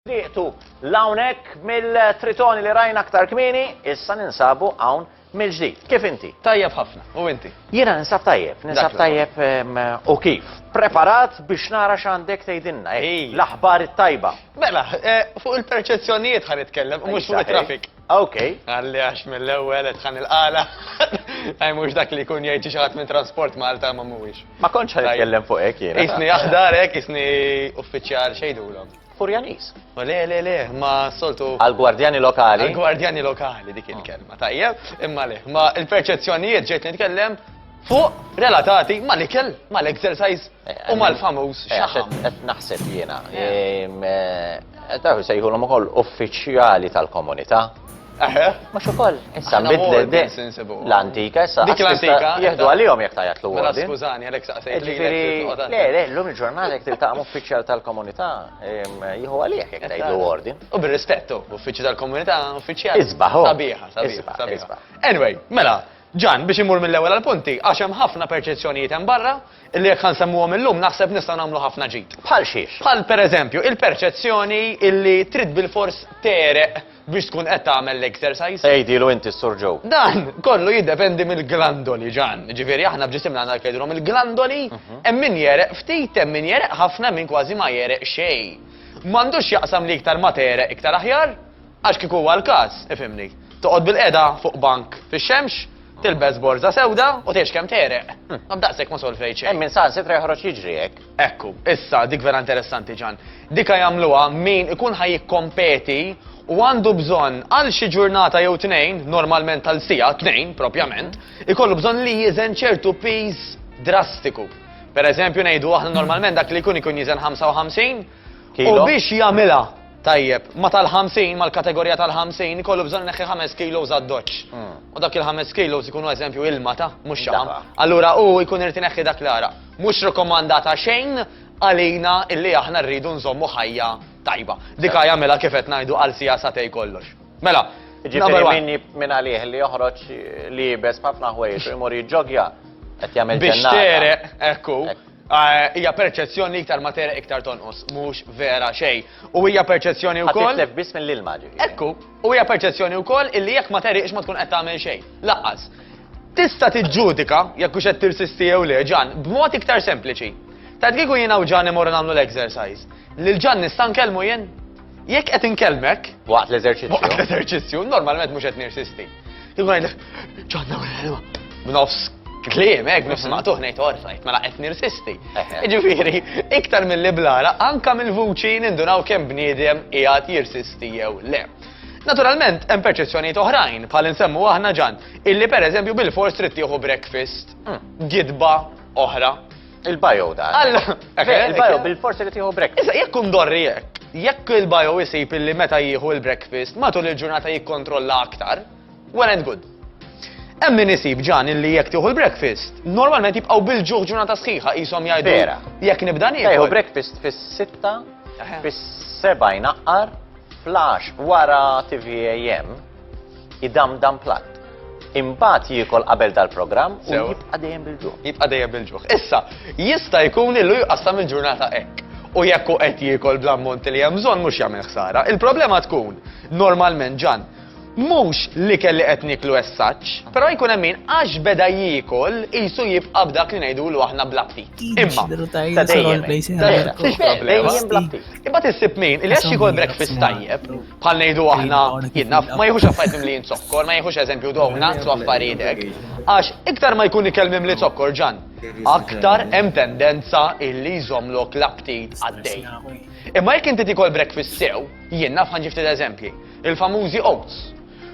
Tieqtu lawnek mill-tritoni li rajna aktar kmini, issa ninsabu hawn mill-ġdid. Kif inti? Tajjeb ħafna, u inti? Jiena ninsab tajjeb, ninsab tajjeb u kif. Preparat biex nara x'għandek tgħidilna, eh, l-aħbar it-tajba. Mela, eh, fuq il-perċezzjonijiet ħan nitkellem, mhux fuq it-traffic. Ok. Għalli għax mill-ewwel qed tħanni l-qala. Ej mhux dak li jkun jgħid xi ħadd minn Transport Malta ma mhuwiex. Ma kontx ħa nitkellem fuq hekk jiena. Isni aħdar hekk, isni uffiċjal xejdulhom. Furjanis. Ma le le le, ma soltu. Għal-gwardjani lokali. Għal-gwardjani lokali dik il-kelma, tajjeb, imma le. Ma il-perċezzjonijiet ġejt nitkellem Fuq relatati mal-ikel, mal-exercise u mal-famuż eh, xaħam. Qed naħseb jiena. Daw sejħulhom ukoll uffiċjali tal-komunità. Eħe. Mhux ukoll. Issa nbidlet l-antika, issa dik l-antika jieħdu għalihom jekk tajjat l Mela skużani għalhekk saqsejt. Ġifieri, le, le, llum il-ġurnata jekk tiltaqgħu uffiċjal tal-komunità jieħu għalih jekk tgħid l ordin. U bir-rispettu, uffiċċju tal-komunità, uffiċjal. Isbaħ. Sabiħa, sabiħa. Anyway, mela, Ġan, biex immur mill-ewwel għall-punti, għax hemm ħafna perċezzjonijiet hemm barra, illi jekk ħa nsemmuhom illum naħseb nistgħu nagħmlu ħafna ġid. Bħal xiex? Bħal pereżempju, il-perċezzjoni illi trid bilfors tegħreq biex tkun qed tagħmel l-exercise. Għidilu inti s-Sur Joe. Dan kollu jiddependi mill-glandoli, Ġan. Jiġifieri aħna f'ġisimna għandna dak jgħidulhom il-glandoli, hemm min jegħreq ftit, hemm min jegħreq ħafna, hemm min kważi ma jegħreq xejn. M'għandux x'jaqsam li iktar ma tegħreq iktar aħjar, Għax kieku huwa l-każ, ifhimni, toqgħod bilqiegħda fuq bank fix-xemx, tilbes borża sewda u tgħix kemm tegħreq. Hm, daqshekk ma solvejt xejn. Hemm min saħansitra joħroġ jiġri hekk. Ekku, issa dik vera interessanti ġan. Dika jagħmluha min ikun ħaj jikkompeti u għandu bżonn għal xi ġurnata jew tnejn, normalment għal sija, tnejn propjament, ikollu bżonn li jiżen ċertu piż drastiku. Per eżempju ngħidu aħna normalment dak li jkun ikun jiżen 55 u biex jagħmilha Tajjeb, ma tal-50, mal-kategorija tal-50, ikollu bżonn ineħħi ħames kilos għad-doċċ. U dak il-ħames kilos ikunu eżempju ilma ta' mhux xaħam. Allura hu jkun irid ineħħi dak l-għaraq. Mhux rikkomandata xejn għalina illi aħna rridu nżommu ħajja tajba. Dik hi jagħmilha kif qed ngħidu għal siegħa sagħtejn kollox. Mela, number one. Jiġifieri min minn għalih li joħroġ li jibes b'ħafna ħwejjeġ u jmur jiġġogja qed jagħmel ġennata. Biex tereq, ekku. Hija perċezzjoni li iktar ma tegħreq iktar tonqos, mhux vera xejn. U hija perċezzjoni wkoll. Ħadd jitlef biss mill-ilma ġifieri. Ekku, u hija perċezzjoni wkoll illi jekk ma tegħriqx ma tkun qed tagħmel xejn. Laqqas. Tista' tiġġudika jekk hux qed tirsisti jew le, Ġan, b'mod iktar sempliċi. Tgħid kieku jiena u Ġan imorru nagħmlu l-exercise, lil Ġan nista' nkellmu jien? Jekk qed inkellmek. Waqt l-eżerċizzju. Waqt l-eżerċizzju, normalment mhux qed nirsisti. Jkun għidlek, ġonna u l-ħelwa. B'nofs Klim, ek, nifs mhm. maqtuħ nejt orfajt, mela qed nirsisti. Ġifiri, iktar mill-li blara, anka mill-vuċi nindunaw kemm bniedem qiegħed jirsisti jew le. Naturalment, hemm perċezzjonijiet oħrajn, bħal insemmu aħna ġan, illi pereżempju bil-fors trid tieħu breakfast, mm. gidba oħra, Il-bio da. Alla! Il-bio bil-forsi li tiħu breakfast. Issa, jekk kun dorri jekk, jekk il-bio jisib illi meta jieħu il-breakfast, matul il-ġurnata jikkontrolla aktar, well and good. Hemm min isib ġan illi jekk tieħu l-breakfast, normalment jibqgħu bil-ġuħ ġurnata sħiħa qishom jgħidu. Vera. Jekk nibda nieħu. Jieħu breakfast fis-sitta, fis-seba' jnaqqar, Flash, wara tvAM, idamdam platt. Imbagħad jiekol qabel dal-programm u jibqa' dejjem bil-ġuħ. Jibqa' dejjem bil-ġuħ. Issa, jista' jkun li jqassam il-ġurnata hekk. U jekk hu qed jiekol bl-ammont li hemm bżonn mhux jagħmel ħsara. Il-problema tkun, normalment Ġann, Mhux l-ikel li qed nieklu as such, però jkun hemm min għax beda jiekol qisu jibqa' b'dak li ngħidulu aħna bla ptit. Imma ta' dejjem hekk. Ta' dejjem hekk. Ta' dejjem bla ptit. Imbagħad issib min li għax jiekol breakfast tajjeb, bħal ngħidu aħna, jien naf, ma jiħux affarijiet mimlijin zokkor, ma jiħux eżempju donuts u affarijiet hekk, għax iktar ma jkun ikel mimli zokkor, Ġann, aktar hemm tendenza illi jżommlok l-aptit għaddej. Imma jekk inti tiekol breakfast sew, jien naf ħa nġi ftit eżempji. Il-famużi oats.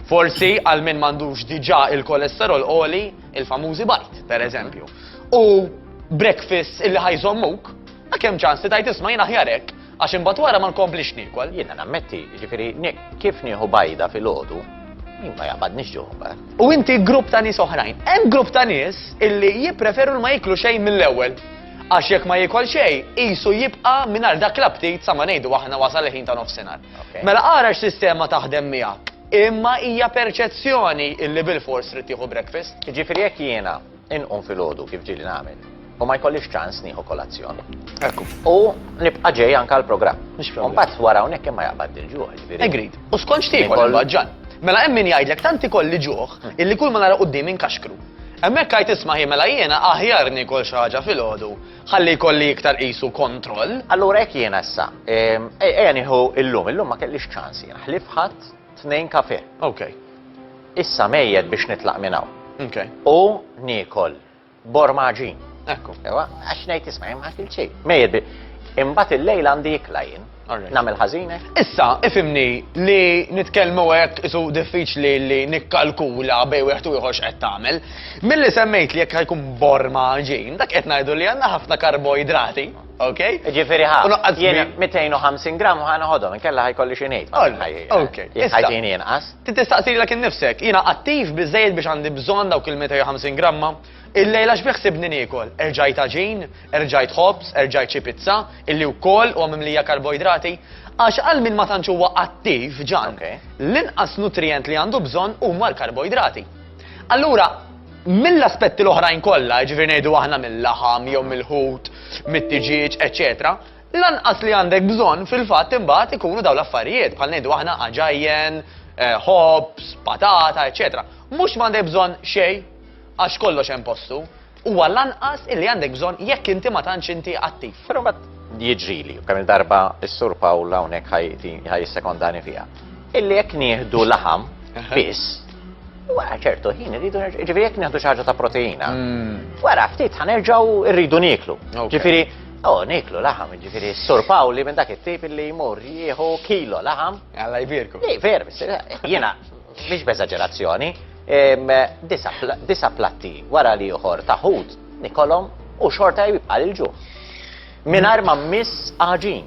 Forsi għal min m'għandux diġà il-kolesterol għoli, il-famużi bajd, pereżempju. U breakfasts illi ħajżommuk, ma kemm ċans li tajt isma' jien aħjar hekk, għax imbagħad wara ma nkomplix niekol. Jiena nammetti, ġifieri kif nieħu bajda filgħodu, ma jaqbadniex ġuħ mbagħad. U inti grupp ta' nies oħrajn. Hemm grupp ta' nies illi jippreferu ma jiklu xejn mill-ewwel. Għax jekk ma jikol xejn, qisu jibqa' mingħajr dak l-aptit sa ma ngħidu aħna wasal il-ħin ta' nofsinhar. Mela ara x'sistema taħdem miegħek. Imma hija perċezzjoni illi bilfors trid tieħu breakfast. Jiġifieri jekk jiena inqum filgħodu kif ġieli nagħmel u ma jkollix ċans nieħu kolazzjon. Ekku. U nibqa' ġej anke għall-programm. Mhux problem. Mbagħad wara hawnhekk imma jaqbad il-ġuħ, ġifieri. Agreed. U skont x'tiekol Inkol- imbagħad ġan. Mela hemm min jgħidlek tant ikolli ġuħ illi kull ma nara quddiem inkaxkru. Hemmhekk għid isma' hi mela jiena aħjar niekol xi ħaġa filgħodu Ħalli jkolli iktar qisu kontroll. Allura hekk jiena issa. Ehm, ejja nieħu illum, illum ma kellix ċans jiena. Ħlif ħadd tnejn kafe. Okay. Issa mejjed biex nitlaq minn hawn. Okay. U niekol bormaġin. Ekku. Ewa, għax ngħid isma' hemm ħadd il-ċej. Mejjed bi. Imbagħad il-lejl għandi ikla jien. Nagħmel ħażin hekk? Issa, ifimni li nitkellmu hekk isu diffiċli li nikkalkula bej wieħed u ieħor x'qed tagħmel. Milli semmejt li jekk ħajkun borma ġin, dak qed ngħidu li għandna ħafna karboidrati. Ok? Ġifiri ħa, jena 250 gram ħana ħodom, kella ħajkolli xinejt. Ok. Ħajtin jenqas. Tistaqsi l-ek nifsek, jena attiv bizzejt biex għandi bżon dawk il-250 gramma, Illejla x'beħsibni niekol? Erġajt għaġin? Erġajt ħobż? Erġajt xi pizza? Illi wkoll huwa mimlija karboidrati? Għax għal min ma tantx huwa attiv, Ġan, l-inqas nutrijent li għandu bżonn huma l-karboidrati. Allura, mill-aspetti l-oħrajn kollha, jiġifieri ngħidu aħna mil-laħam jew mill-ħut, mit-tiġieġ, eċċetera, l-anqas li għandek bżonn fil-fatt imbagħad ikunu dawn l-affarijiet bħal ngħidu aħna għaġajjen, eh, ħobż, patata, eċċetera. Mhux m'għandek bżonn xejn Għax kollox hemm postu. Huwa l-anqas illi għandek bżonn jekk inti ma tantx inti attiv. Però mbagħad jiġrili, kemm il-darba s-Sur Pawl hawnhekk ħaj jissekondani fiha. Illi jekk nieħdu laħam biss, wara ċertu ħin irridu ġifieri jekk nieħdu xi ħaġa ta' proteina. Hmm. Wara ftit ħanerġgħu rridu nieklu. Ġifieri Oh, niklu laħam, ġifiri, sur Pawli minn dak it-tip li jmur jieħu kilo laħam. Għalla jbirku. Li, ver, jena, Mhix b'eżaġerazzjoni, disa' platti wara li ieħor ta' ħut nikolhom u xorta jibqa' l-ġuħ. Mingħajr ma mmiss għaġin.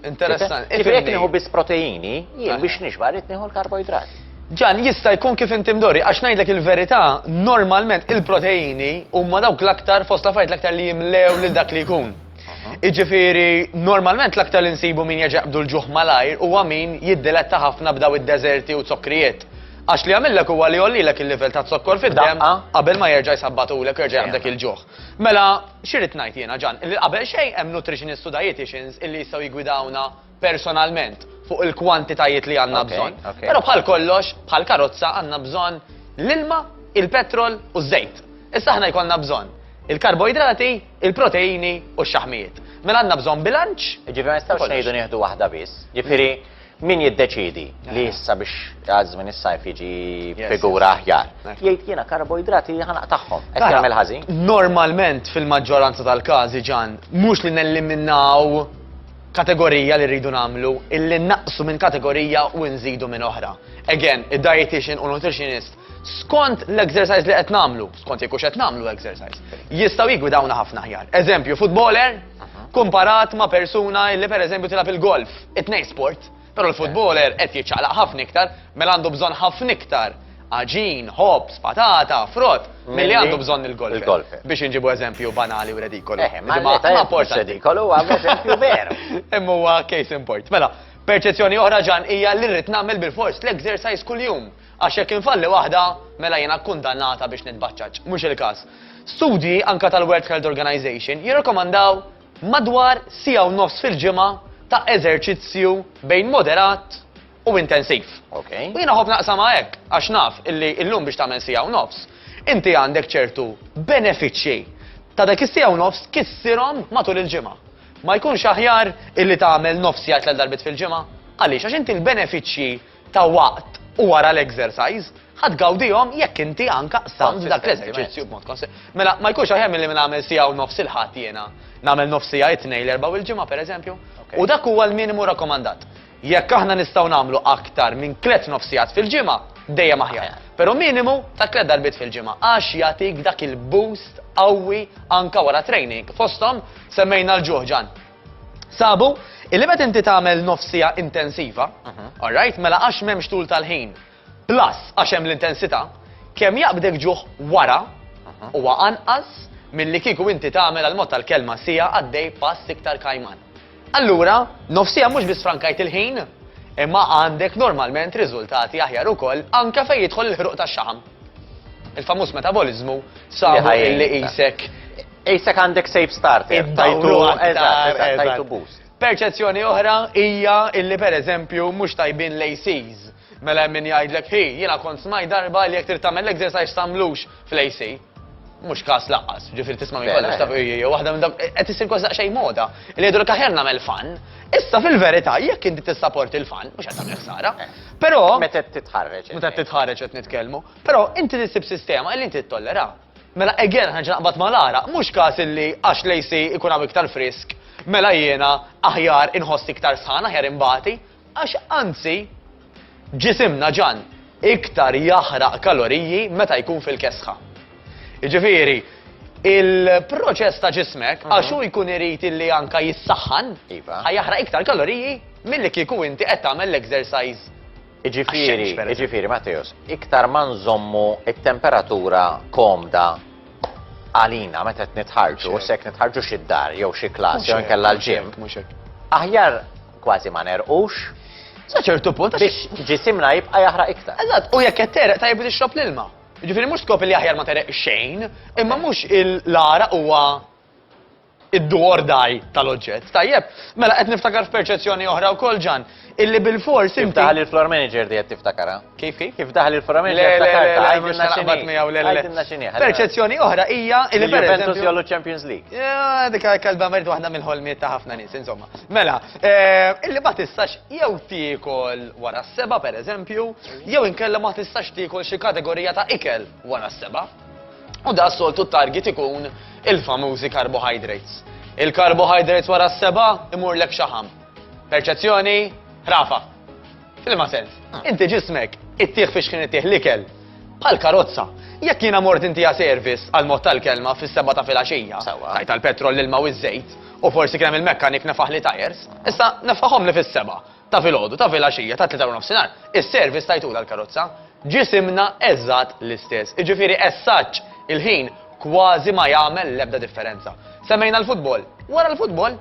Interessanti. Kif jekk nieħu biss proteini, jien biex nixba rrid nieħu l-karboidrat. Ġan, jista' jkun kif inti mdorri, għax ngħidlek il-verità, normalment il-proteini huma dawk l-aktar fost l-affarijiet l-aktar li jimlew lil dak li jkun. Iġifiri, normalment l-aktar li nsibu min jaġaqbdu l-ġuħ malajr u għamin jiddiletta ħafna b'daw id-deserti u zokkrijiet. Għax li għamillek huwa li jollilek il-livell ta' zokkor fid-dem qabel ma jerġa' jisabbatulek u jerġa' jaqbdek il-ġuħ. Mela, xirrit ngħid jiena ġan, li qabel xejn hemm nutritionist u dietitians illi jistgħu jigwidawna personalment fuq il-kwantitajiet li għandna bżonn. Però bħal kollox, bħal karozza għandna bżonn l-ilma, il-petrol u ż-żejt. Issa aħna jkollna bżonn il-karboidrati, il-proteini u x-xaħmijiet. Mela għandna bżonn bilanċ. Ġifieri ma nistgħux ngħidu nieħdu waħda biss. Ġifieri min jiddeċidi li issa biex għazmin is-sajf jiġi figura aħjar. Jgħid jiena karboidrati ħanaq tagħhom. Qed jagħmel ħażin. Normalment fil-maġġoranza tal-każi ġan mhux li nelliminaw kategorija li rridu nagħmlu illi nnaqqsu minn kategorija u nżidu minn oħra. Again, id-dietician u nutritionist skont l-exercise li qed nagħmlu, skont jekk qed nagħmlu exercise, jistgħu jigwidawna ħafna ħjar. Eżempju, footballer mhm. kumparat ma' persuna illi pereżempju tilab il-golf, it-tnejn sport. Però l-futboler qed jiċċaqlaq ħafna iktar, mela għandu bżonn ħafna iktar għaġin, ħobs, patata, frott, milli għandu bżonn il-golf. Biex inġibu eżempju banali u redikolu. Eh, ma rapport redikolu għam eżempju veru. Imma huwa case in point. Mela, perċezzjoni oħra ġan hija li rrid nagħmel bil-fors l-exercise kuljum. Għax jekk infalli waħda, mela jiena kundannata biex nitbaċċaċ. Mhux il-każ. Studji anka tal-World Health Organization jirrekomandaw Madwar siegħa u nofs fil-ġimgħa ta' eżerċizzju bejn moderat u intensiv. Okay. U jiena ħobb naqsamha hekk għax naf illi illum biex tagħmel siegħa u nofs, inti għandek ċertu benefiċċji ta' dak is-siegħa u nofs kissirhom matul il-ġimgħa. Ma jkunx aħjar illi tagħmel nofs siegħa tliet darbiet fil-ġimgħa? Għaliex? Għax inti l-benefiċċji ta' waqt u wara l-exercise, ħa tgawdihom jekk inti anka qsamt dak l-eżerċizzju b'mod konse. Mela, ma jkunx aħjar milli nagħmel siegħa u nofs il-Ħadd jiena nagħmel nofs siegħa it-Tnejn, l-Erbgħa u l-Ġimgħa pereżempju? U dak huwa l-minimu rakkomandat. Jekk aħna nistgħu nagħmlu aktar minn tliet nofsigħat fil-ġimgħa, dejjem aħjar. Però minimu ta' tliet darbiet fil-ġimgħa għax jagħtik dak il-boost qawwi anka wara training. Fosthom semmejna l-ġuħ, Ġann. Sabu, illi meta inti tagħmel nofsija intensiva, mhm. alright, mela għax m'hemmx tul tal-ħin, plus għax hemm l-intensità, kemm jaqbdek ġuħ wara mhm. huwa anqas milli kieku inti tagħmel għal mod tal-kelma sija għaddej pass iktar kajman. Allura, nofsija mhux biss frankajt il-ħin, imma għandek normalment riżultati aħjar ukoll anke fejn jidħol il-ħruq tax-xaħam. Il-famuż metabolizmu sabu li qisek Qisek għandek safe starter. Iddawru aktar. Tajtu boost. Perċezzjoni oħra hija illi pereżempju mhux tajbin l-ACs. Mela hemm min jgħidlek hi, jiena kont smaj darba li jekk trid tagħmel l-exercise tagħmlux fl-AC mhux każ laqqas, ġifieri tisma' minn kollox taf jew waħda minn dawk qed isir kważi xejn moda. Li jgħidu l aħjar nagħmel fan, issa fil-verità jekk inti tissaport il-fan mhux qed tagħmel ħsara. Eh. Però meta titħarreġ. Meta titħarreġ qed nitkellmu. Però inti tissib sistema li inti ttollera. Mela again ħa nerġa' naqbad mal-għaraq, mhux każ illi għax l-AC ikun hawn iktar frisk, mela jiena aħjar inħossni iktar sħan, aħjar inbati, għax anzi ġisimna ġan iktar jaħraq kaloriji meta jkun fil-kesħa. Jiġifieri, il-proċess ta' ġismek mhm. għax hu jkun irid illi anka jissaħħan, iva. ħajaħraq iktar kaloriji milli kieku inti qed tagħmel l-exercise Iġifieri, iġifieri Matteos, iktar ma nżommu it-temperatura komda għalina meta qed nitħarġu, se jekk nitħarġu xi dar jew xi klass jew inkella l-ġim. Aħjar kważi ma nerqux. Sa ċertu punt biex ġisimna jibqa' jaħraq iktar. Eżatt, u jekk qed tereq tajjeb li tixrob l-ilma. Ġifieri mhux skop li aħjar ma tereq xejn, imma mhux il-lara huwa id-do or die tal-oġġett. Tajjeb, mela qed niftakar f'perċezzjoni oħra wkoll ġan, illi bil-fors inti. Daħal il-floor manager di qed tiftakara. Kif kif? Kif daħal il-floor manager tiftakarta. Għajdilna xaqbat miegħu le le. Għajdilna xini. Perċezzjoni oħra hija illi per Juventus jollu Champions League. Dik kalba merd waħda mill-ħolmiet ta' ħafna nies, insomma. Mela, eh, illi ma tistax jew tiekol wara s-seba pereżempju, jew inkella ma tistax tiekol xi kategorija ta' ikel wara s-seba. U da soltu t-target ikun il-famużi carbohydrates. Il-carbohydrates wara s-seba imur lek xaħam. Perċezzjoni, rafa. Fil-ma sens, ah. inti ġismek, it-tieħ fiex kien it-tieħ l-ikel, bħal karozza. Jekk jiena mort inti service għal mod tal-kelma fis-seba ta' filgħaxija, tajt tal-petrol l-ilma u ż-żejt, u forsi kien il-mekkanik nefaħ li tajers, issa nefaħhom li fis-seba. Ta' filgħodu, ta' filgħaxija, ta' tlieta warnofsinhar, is-service tajtulha l-karozza. Ġisimna eżatt l-istess, jiġifieri as-such il-ħin kważi ma jagħmel l-ebda differenza. Semmejna l-futbol, wara l-futbol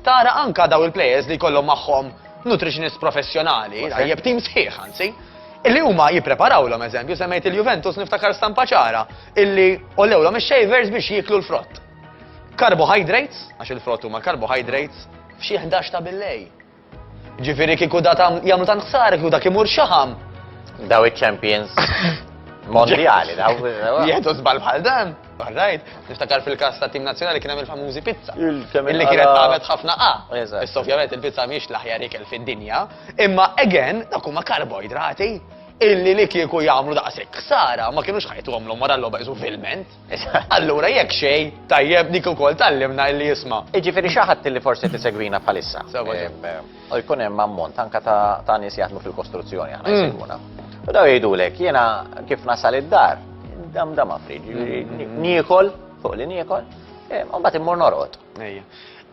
tara anka dawn il-players li jkollhom magħhom nutritionist professjonali, tajjeb tim sħiħ anzi, illi huma jippreparawlhom eżempju, semmejt il-Juventus niftakar stampa ċara illi għollewlhom ix-shavers biex jieklu l-frott. Carbohydrates, għax il-frott huma carbohydrates, f'xi ħdax ta' billejl. Ġifieri kieku da tam jagħmlu tant ħsara kieku dak imur xaħam. Daw iċ-champions mondjali, daw. Jieħdu żball bħal dan. Barrajt, niftakar fil-kas ta' tim nazzjonali kien hemm il-famużi pizza. Illi kienet għamet ħafna A. Issa ovvjament il-pizza mhix l-aħjar ikel fid-dinja, imma again dak huma karboidrati illi li kieku jagħmlu daqshekk ksara ma kienux ħajtu għamlu mara l-logħba filment. Allura jekk xejn, tajjeb dik ukoll tgħallimna illi jisma'. Jiġifieri xi ħadd li forsi tisegwina bħalissa. U jkun hemm ammont anke ta' nies jaħdmu fil-kostruzzjoni aħna mm. jsegwuna. U daw jgħidulek jiena kif nasal id-dar, dam dam affriġ, jiġifieri mm. niekol fuq li niekol, eh, u mbagħad immur norqod. Ejja.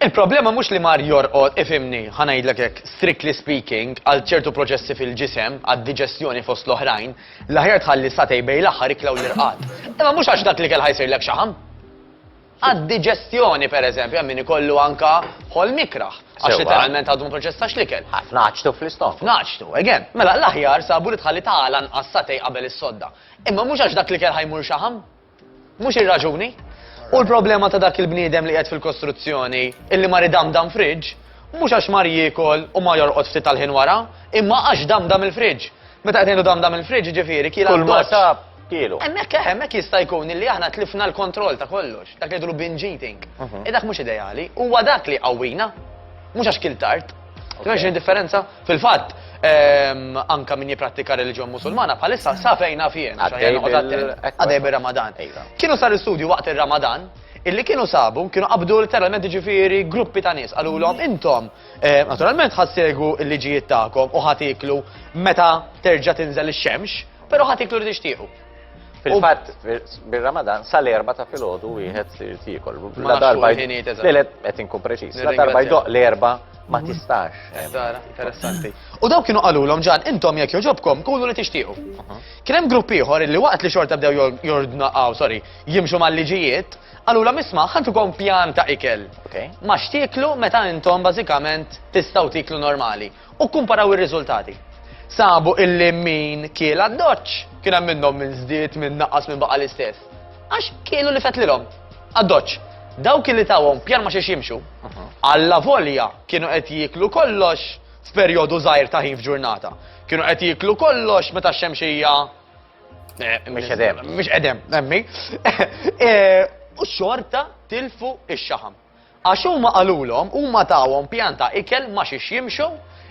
Il-problema mhux li mar jorqod, ifhimni, ħa ngħidlek hekk, strictly speaking, għal ċertu proċessi fil-ġisem, għad-diġestjoni fost l-oħrajn, l-aħjar tħalli satej bejn l-aħħar ikla u l-irqad. Imma mhux għax dak l-ikel ħa jsirlek xaħam. Għad-diġestjoni, per eżempju, hemm min ikollu anka ħolm ikrah. Għax Sewwa. literalment għadu ma proċessax l-ikel. Ħafna ħaġtu fl-istok. Naċtu, again. Mela, l-aħjar sabu li tħalli tagħla nqas satej qabel is-sodda. Imma mhux għax dak l-ikel ħajmur xaħam. Mhux ir-raġuni. U l-problema ta' dak il-bniedem li qiegħed fil-kostruzzjoni illi mar idamdam fridge, mhux għax mar jiekol u mar jorqod ftit tal-ħin wara, imma għax damdam il-fridge. Meta qed ngħidu damdam il-fridge jiġifieri kiel għad-doċċ. Kulma sab, kielu. Hemmhekk eh, hemmhekk jista' jkun illi aħna tlifna l-kontroll ta' kollox, dak li jgħidulu binge eating. Mhm. E dak mhux ideali, huwa dak li jqawwina, mhux għax kiel tard. Tmexx indifferenza? Fil-fatt, ehm, anka min jiprattika reliġjon musulmana bħalissa sa fejn naf jien. Għadej bir-Ramadan. Iva. Kienu sar istudju waqt ir-Ramadan illi kienu sabu, kienu qabdu literalment ġifiri gruppi ta' nis, għallu l-om intom, eh, naturalment ħassegu il-liġijiet ta'kom u ħatiklu meta terġa tinżel il-xemx, pero ħatiklu li tixtiqu. Fil-fatt, bir-Ramadan, sal-erba ta' filgħodu wieħed sir tikol. La darba qed inkun preċiż. La darba jdoq l-erba ma mhm. tistax. Eh, interessanti. U daw kienu qalulhom ġan intom jekk joġobkom kulu li tixtiequ. Mhm. Kien hemm grupp ieħor li waqt li xorta bdew jordnaqgħu, sorry, jimxu mal-liġijiet, qalulha misma' ħantukom pjan ta' ikel. Ma xtieklu meta intom bażikament tistgħu tiklu normali. u kkumparaw ir-riżultati. Sabu illi min kiel għad-doċċ kien hemm minnhom min żdied, min naqqas, min baqa' l-istess. Għax kielu li fetlilhom għad-doċċ. Dawk illi tawhom pjan ma xiex jimxu, alla volja kienu qed jieklu kollox f'perjodu żgħir ta' ħin f'ġurnata. Kienu qed jieklu kollox meta x-xemxija eh, Mhix qedem. Mhix qedem, nemmi. Eh, u xorta tilfu ix-xaħam. Għax huma qalulhom, huma tawhom pjan ta' ikel ma' xiex jimxu,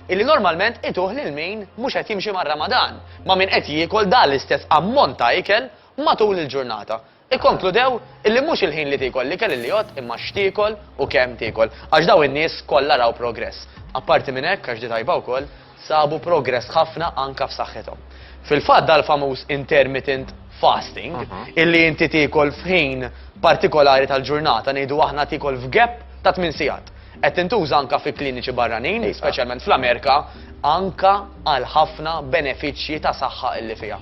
illi normalment ituh lil min mhux qed jimxi mar-Ramadan, ma' min qed jiekol dan l-istess ammont ta' ikel matul il-ġurnata. Ikkonkludew illi mhux il-ħin li tiekol l-ikel illi jgħodd imma x'tiekol u kemm tiekol. Għax dawn in-nies kollha raw progress. Apparti minn hekk, għax di tajba wkoll, sabu progress ħafna anke f'saħħithom. Fil-fatt dal-famuż intermittent fasting, illi inti tiekol f'ħin partikolari tal-ġurnata, ngħidu aħna tiekol f'gap ta' tmien sigħat, qed tintuża anke fi kliniċi barranin, speċjalment fl-Amerika, anke għal ħafna benefiċċji ta' saħħa illi fiha.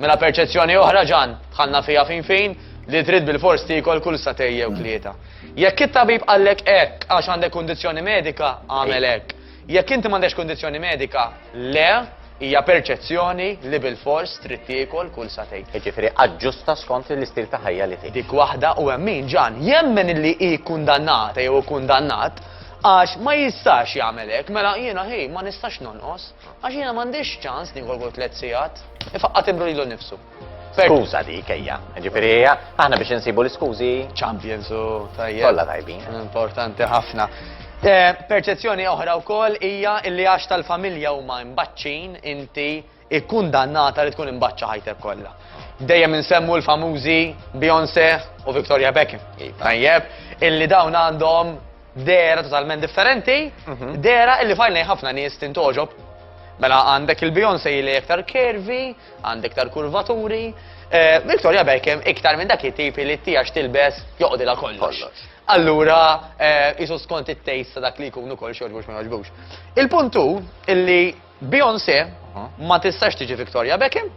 Mela perċezzjoni oħra, Ġann, dħalna fiha fin fin, li trid bilfors tiekol kull sagħtejn jew tlieta. Jekk it-tabib qallek hekk għax għandek kundizzjoni medika, agħmel hekk. Jekk inti m'għandekx kundizzjoni medika, le, hija perċezzjoni li bilfors trid tiekol kull sagħtejn. Jiġifieri aġġusta skont l-istil ta' ħajja li tgħix. Dik waħda u hemm min, Ġan, jemmen illi hi kkundannata jew ikkundannat għax ma jistax jagħmel hekk, mela jiena hi ma nistax nonqos għax jiena m'għandix ċans niekol kull tliet sigħat. Ifaqqat imru lilu nnifsu. Skuża dik ejja, ġifieri hija aħna biex insibu l-iskużi. Champions u tajjeb. Kollha tajbin. Importanti ħafna. Eh, perċezzjoni oħra wkoll hija li għax tal-familja huma mbaċċin inti ikkundannata li tkun imbaċċa ħajtek kollha. Dejjem insemmu l-famużi Beyoncé u Victoria Beckham. Iva. Tajjeb, illi dawn għandhom Dera totalment differenti, mhm. dera illi fajna ħafna nies tintoġob. Mela għandek il-Beyoncé li iktar kervi, għandek iktar kurvaturi, eh, Victoria Beckham iktar minn dak it-tipi li tijax tilbes joqdila kollox. Allura, eh, jisu skont it-tejst ta' dak li jkunu kol xorġbux ma joġbux. Il-puntu illi Beyoncé ma tistax tiġi Victoria Beckham,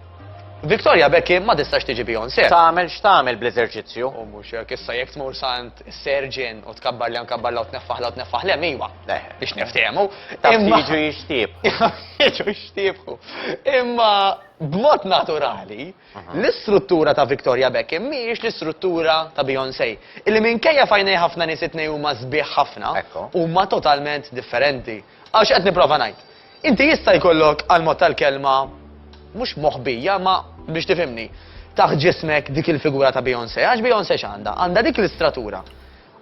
Victoria Beckham ma tistax tiġi Beyoncé. Tagħmel x'tagħmel bl-eżerċizzju? U mhux hekk issa jekk tmur sant serġin u tkabbar li nkabbar law tneffaħ law tneffaħ lem iva. Eh. Biex niftehmu. Imma jiġu jixtieb. Jiġu jixtiebħu. Imma b'mod naturali, l-istruttura ta' Victoria Beckham mhijiex l-istruttura ta' Beyoncé. Illi minkejja fajnej ħafna nies it-tnejn huma sbieħ ħafna, huma totalment differenti. Għax qed nipprova ngħid. Inti jista' jkollok għall-mod tal-kelma mhux moħbija ma biex tifhimni. Taħt ġismek dik il-figura ta' Beyoncé, għax Beyoncé x'għandha? Għandha dik l-istratura.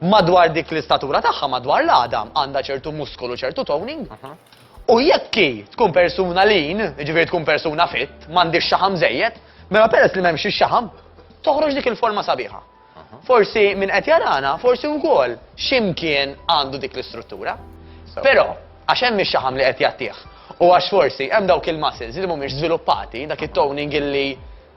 Madwar dik l-istatura tagħha madwar l-għadam għandha ċertu muskolu, ċertu toning. U jekk hi tkun persuna lin, jiġifieri tkun persuna fit, m'għandix xaħam żejjed, mela peress li m'hemmx ix-xaħam, toħroġ dik il-forma sabiħa. Forsi min qed jarana, forsi wkoll xi mkien għandu dik l-istruttura. Però, għax hemm ix-xaħam li qed jagħtih, u għax forsi hemm dawk il-muscles li mhumiex żviluppati, dak it-toning illi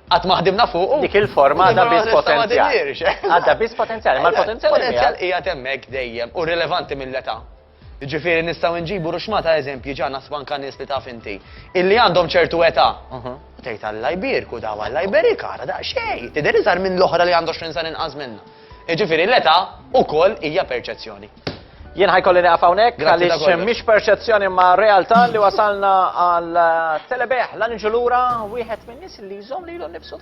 qatt ma ħdimna fuq. Dik il-forma għadha biss potenzjal. Għadha biss potenzjal, ma l-potenzjal. Il-potenzjal qiegħed hemmhekk dejjem u rilevanti mill-età. Jiġifieri nistgħu inġibu ruxma ta' eżempji ġa naħsbu anka nies li taf inti, illi għandhom ċertu età. U tgħid Alla jbierku daw, Alla jberikha, ara daqsxejn, tidher iżgħar minn l-oħra li għandha għoxrin sena inqas minnha. Jiġifieri l-età ukoll hija perċezzjoni. Jien ħa jkolli nieqaf hawnhekk għaliex mhix perċezzjoni imma realtà li wasalna għal telebeħ l-anġu lura wieħed min-nies li jżomm lilu nnifsu